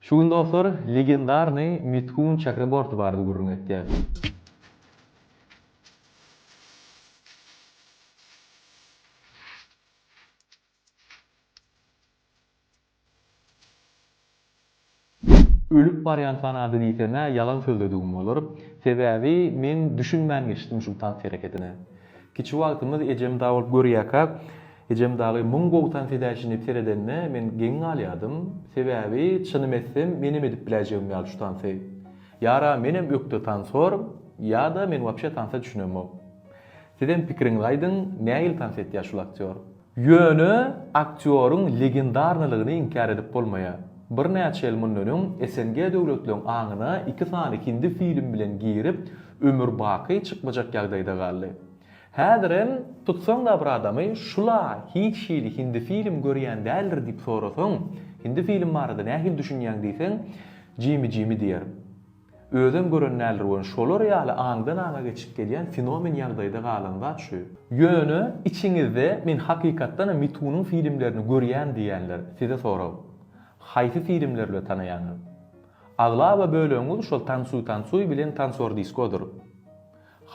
Şu gün dostlar legendarnyý Mitkun Çakra Borty barada gürrüň etýäs. Ölüp barýan fanady diýsemä ýalan sözledigim bolar. Sebäbi men düşünmän geçdim şul tans hereketine. Kiçi wagtymyz ejem dabolup görýärkä, Ejem dagy müň bogtan fidäçini seredende men geň galýadym, sebäbi çynym etsem menem edip biläýjegim ýaly şu tansy. Ýara menem ökde tansor, ýa-da men wapşe tansa düşünemok. Sizem pikiriňizi aýdyň, nähili tans etýär şul aktýor? Ýöne aktýoryň legendarnylygyny inkär edip bolmaýar. Birnäçe ýyl mundan öň SNG döwletleriň aňyna iki sany hindi film bilen girip, ömür baky çykmajak ýagdaýda galdy. Häzir hem tutsaň-da bir adamy, Şul-a hiç hili hindi film görýän däldir diýip sorasaň, hindi film barada nähili düşünýäň diýseň, jimi-jimi diýer. Özem gören däldir we şolar ýaly aňdan-aňa geçip gelýän fenomen ýagdaýda galan zat şu. Ýöne içiňizde men hakykatdanam Mitunyň filmlerini görýän diýýänler, size sorag. Haýsy filmler bilen tanaýaňyz? Aglaba bölegiňiz şol Tansuý-tansuý bilen Tansor-diskodyr.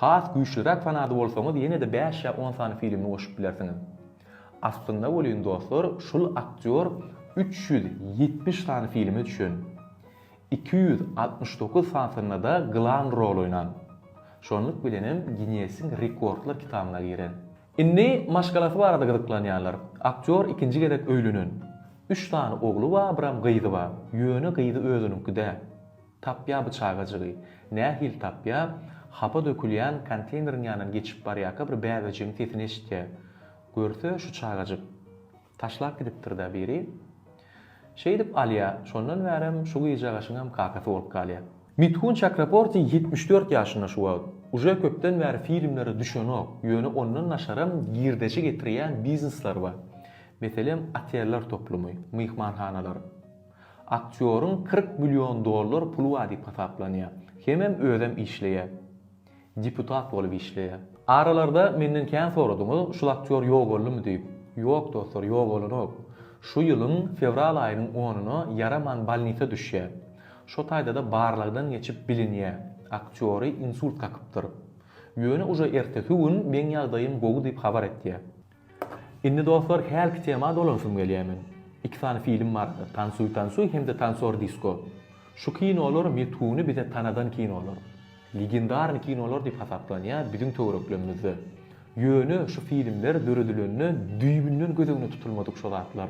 Has güýçliräk fanady bolsaňyz ýene-de bäş ýa on sany filmini goşup bilersiňiz. Aslynda welin dostlar şul aktýor üç ýüz ýetmiş sany filme düşen. Iki ýüz altmyş dokuz sanysynda-da glan rol oýnan. Şonluk bilenem Ginnesiň rekordlar kitabyna giren. Indi maşgalasy barada gyzyklanýanlar. Aktýor ikinji gezek öýlenen. Üç sany ogly bar, biram gyzy bar. Ýöne gyzy özüniňki däl. Tapýa bu çagajygy. Nähili tapýa? Hapa dökülýän konteýneriň ýanyndan geçip barýarka bir bäbejigiň sesini eşitýä. Görse, şu çagajyk. Taşlap gidipdir-dä biri. Şeýdip alýa. Şondan bärem şu gyzjagaşyňam kakasy bolup galýa. Mithun Çakraporti ýetmiş dört ýaşynda şu wagt. Uje köpden bäri filmlere düşenok, ýöne ondan daşaram girdeji getirýän biznesleri bar. Meselem, oteller toplumy, myhmanhanalar. Aktýoryň kyrk million dollar puly bar diýip hasaplanýar. Hemem özem işleýär. Deputat bolup işleýär. Aralarda menden kän soradyňyz, şul aktýor ýogaldymy diýip. Ýok dostlar, ýogalanok. Şu ýylyň fewral aýynyň onuna Ýaraman bolnisa düşýär. Şo taýda-da barlagdan geçip bilinýär. Aktýory insult kakypdyr. Ýöne uje ertesi gün meň ýagdaýym gowy diýip habar etýär. Indi dostlar hälki tema dolanyşym gelýär men. Iki sany film bardyr Tansuy tansuy hem-de Tansor disko. Şu kinolar metguny bize tanadan kinolar. Legendarny kinolar diýip hasaplanýar biziň töwereklerimizde. Ýöne şu filmler döredilende düýbünden göz öňüne tutulmadyk şu zatlar.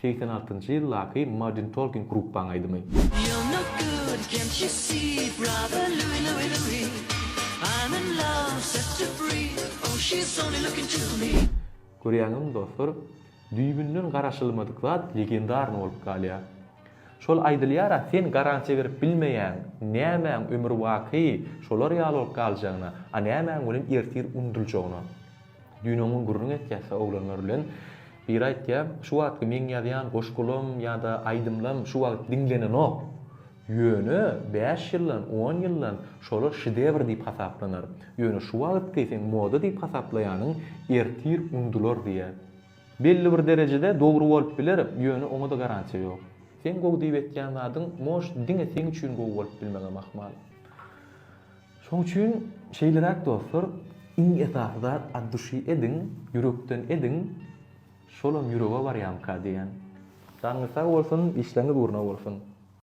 Segsen altynjy ýyldaky Modern Talking gruppaň aýdymy. You're no good, can't you see, brother Louie, Louie, Louie I'm in love, set her free, oh she's only looking to me. Görýäňizmi dostlar, düýbünden garaşylmadyk zat legendarny bolup galýar. Şol aýdylýar-a, sen garansiýa berip bilmeýäň, nämäň ömürbaky şolar ýaly bolup galjagyna, a nämäň welin ertir unudyljagyna. Düýn oňa gürrüň etýäs-hä oglanlar bilen. Biri aýtýar, Şu wagtky meň ýazýan goşgulam ýa-da aýdymlam şu wagt diňlenenok. Ýöne bäş ýyldan, on ýyldan şolar şedewr diýip hasaplanar. Ýöne şu wagtky seň moda diýip hasaplaýanyň ertir unudylar diýýär. Belli bir derejede dogry bolup biler, ýöne oňa-da garantiýa ýok. Seň gowy diýip etýän zadyň, может, diňe seň üçin gowy bolup bilmegem ahmal. Şoň üçin şeýleräk dostlar, iň esasy zat at duşy ediň, ýürekden ediň, şolam ýürege barýamyka diýýän. Janyňyz sag bolsun, işleriňiz ugruna bolsun!